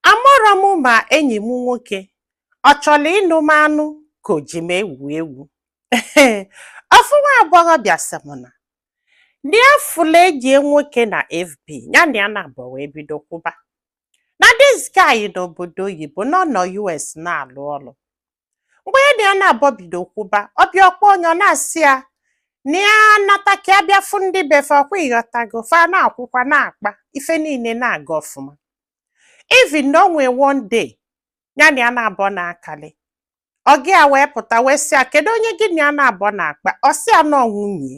Amarọ m ma enyi m nwoke ọ chọrọ ịnụ m anụ ka o ji m egwu egwu. Ofu nwa agbọghọbịa sị m na na ya fụlụ enyi ya nwoke na FB ya na ya naabọ wee bido kwụba. Na this guy nọ obodo oyibo na ọ nọ US na-alụ ọlụ. mgbe ya na ya naabọ bido kwụba ọ bịa ọ kpọọ nya ọ na-asị ya na ya nata ka ya bịa fụ ndị be fa ọ kwa ị ghọtago fa na-akwụkwa na-akpa ife niile na-aga ọfụma even na o nwee one day ya na ya naabọ na-akọli ọga ya wee pụta wee sị ya kedu onye gị na ya naabọ na-akpa ọ sị ya na ọ nwunye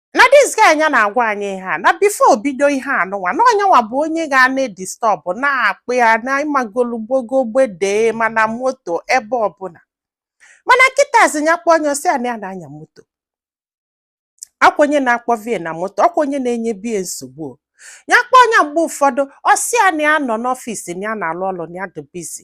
na this guy nya na-agwa anyị ihe a na before o bido ihe anụnwa na ọ nya nwa bụ onye ga na-edistọbụ na-akpọ ya na ị magolu gbogo gbedee ma na moto ebe ọbụla mana kịtazi ya kpọọ nya ọ sị ya na ya na-anya moto ọ kwa onye na-akpọbu ya na moto ọ kwa onye na-enyebu ya nsogbu o. ya kpọọ nya mgbe ụfọdụ ọ sị ya na ya nọ n'office na ya na-alụ ọlụ na ya dị busy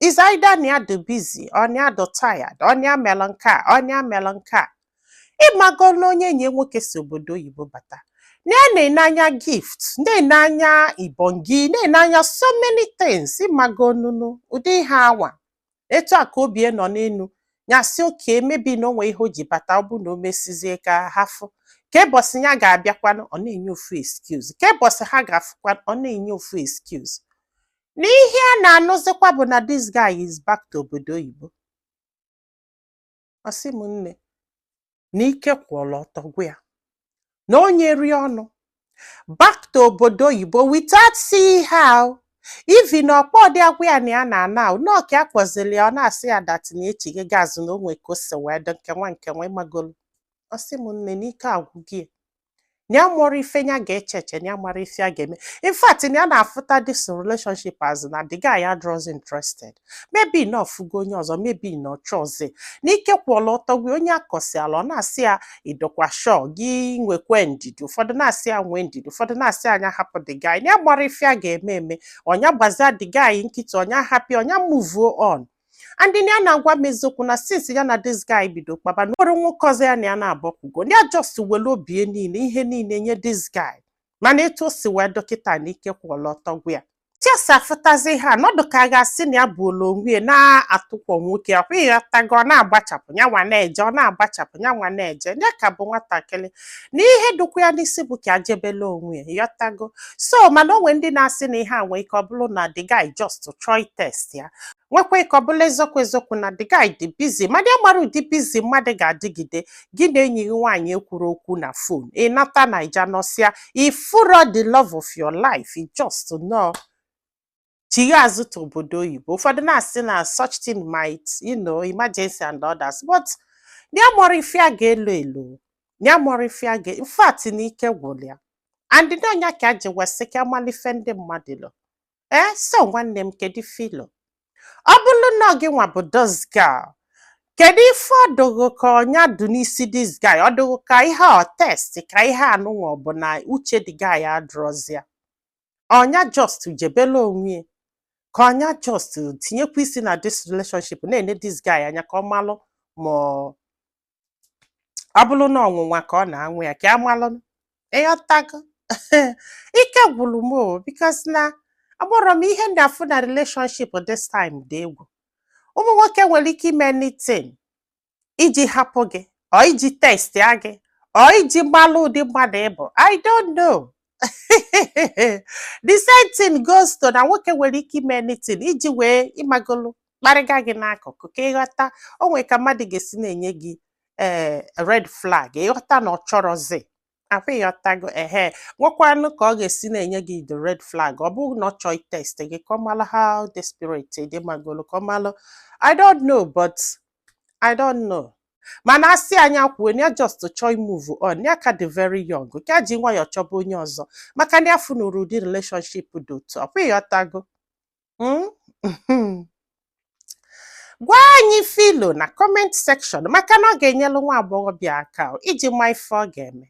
is either na ya dị busy or na ya dị tired or na ya melụ nke a or na ya melụ nke a ị mago na onye enyi ya nwoke si obodo oyibo bata na ya na-ene anya gift na-ene anya ibongi na-ene anya so many things ị mago nunu ụdị ihe anwa etu a ka obi ya nọ n'enu ya sị okay maybe na o nwee ihe o ji bata ọ bụ na o mesizie ka ha fụ kee ụbọchị ya ga-abịakwanụ ọ na-enye ofu excuse kee ụbọchị ha ga-afụkwanụ ọ na-enye ofu excuse na ihe a na-anụzikwa bụ na this guy is back to obodo oyibo ọ sị m nne na ike kwụlụ ọtọ gwụ ya na onye rie ọnụ back to obodo oyibo without seeing her even na ọ kpọdị ya gwa ya na ya na-ana na ọ ka ya kpọzili ya ọ na-asị ya that na echighago azụ na o nwee ka o si wee dị nke nwa nke nwa ị magolu ọ sị m nne na ike agwụgo ya na ya amarọ ife ya ga-eche eche na ya amarọ ife ya ga-eme in fact na ya na-afụta this relationship as na the guy adịrọzi interested maybe na ọ fụgo onye ọzọ maybe na ọ chọọzi na ike kwụlụ ọtọ gwụ ya onye ya kọsịalụ ọ na-asị ya ị dụkwa sure gị nwekwe ndidi ụfọdụ na-asị ya nwee ndidi ụfọdụ na-asị ya nya hapụ the guy na ya amarọ ife ya ga-eme eme ọ nya gbazie the guy nkịtị ọ nya hapụ ya ọ nya move on and nya na-agwa m eziokwu na since ya na this guy bido kpaba na o nwerọ nwoke ọzọ ya na ya naabọ kwụgo nya just were obie niile ihe niile nye this guy mana etu o si wee dụ kịta na ike kwụlụ ọtọ gwụ ya ka ya si afụtazi ya na ọ dụ ka a ga-asị na ya buulu onwe ya na-atụkwọ nwoke ọ kwa ị ghọtago ọ na-agbachapụ ya nwa na-eje ọ na-agbachapụ ya nwa na-eje ya ka bụ nwatakịrị na ihe dụkwa ya n'isi bụ ka ya jebelu onwe ya ị ghọtago so mana o nwee ndị na-asị na ihe a nwee ike ọ bụlụ na the guy just chọọ ịtest ya nwekwa ike ọ bụlụ eziokwu eziokwu na the guy dị busy mana ya amarọ ụdị busy mmadụ ga-adịgide gị na enyi gị nwaanyị ekwurọ okwu na phone ị nata Naija nọsịa ị fụrọ the love of your life ị just nọọ chigha azụ to obodo oyibo ụfọdụ na-asị na such thing might you know emergency and others but ya amarọ ife a ga-elo elo ya amarọ ife a ga in fact na ike gwụrụ ya and ndị ọ nya ka a ji wee sị ka a malụ ife ndị mmadụ lo ee so nwanne m kedu ife i lo ọ bụrụ na gị nwa bụ this girl kedu ife ọ dụ ghụ ka ọ nya dụ n'isi this guy ọ dụ ghụ ka ihe ọ test ka ihe a nụnwa ọ bụ na uche the guy adrọzi ya ọ nya just jebelụ onwe ya ka ọ nya just tinyekwa isi na this relationship na-ene this guy anya ka ọ malụ ma ọ ọ bụrụ na ọnwụnwa ka ọ na-anwa ya ka a malụ ị ghọtago ike gwụrụ m o because na aghọrọ m ihe ndị afụ na relationship this time dị egwu ụmụ nwoke nwere ike ime anything iji hapụ gị ọ iji testịa gị ọ iji malụ ụdị mmadụ ị bụ i don't know the same thing goes to na nwoke nwere ike ime anything iji wee ị magolu kparịga gị n'akụkụ ka ị ghọta o nwere ka mmadụ ga-esi na-enye gị ee eh, red flag ị ghọta na ọ chọrọzi ọ kwa ị ghọtago ehe nwekwanụ ka ọ ga-esi na-enye gị the red flag ọ bụrụ na ọ chọọ ịtest gị ka ọ malụ how desperate ị dị ị magolu ka ọ malụ i don't know but i don't know mana asị anyị akwuo na ya just chọọ imove on ya ka dị very young ka a ji nwayọọ chọba onye ọzọ maka na ya afụnurọ ụdị relationship dị otu ọ kwa ị ghọtago Hmm? gwa anyị ife i lo na comment section maka na ọ ga-enyelu nwa agbọghọbịa aka iji ma ife ọ ga-eme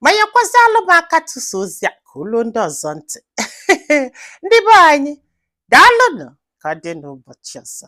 ma nyekwazialụ m aka tụsa ozi a ka o lu ndị ọzọ ntị ndị be anyị daalụnụ ka ọ dị n'ụbọchị ọzọ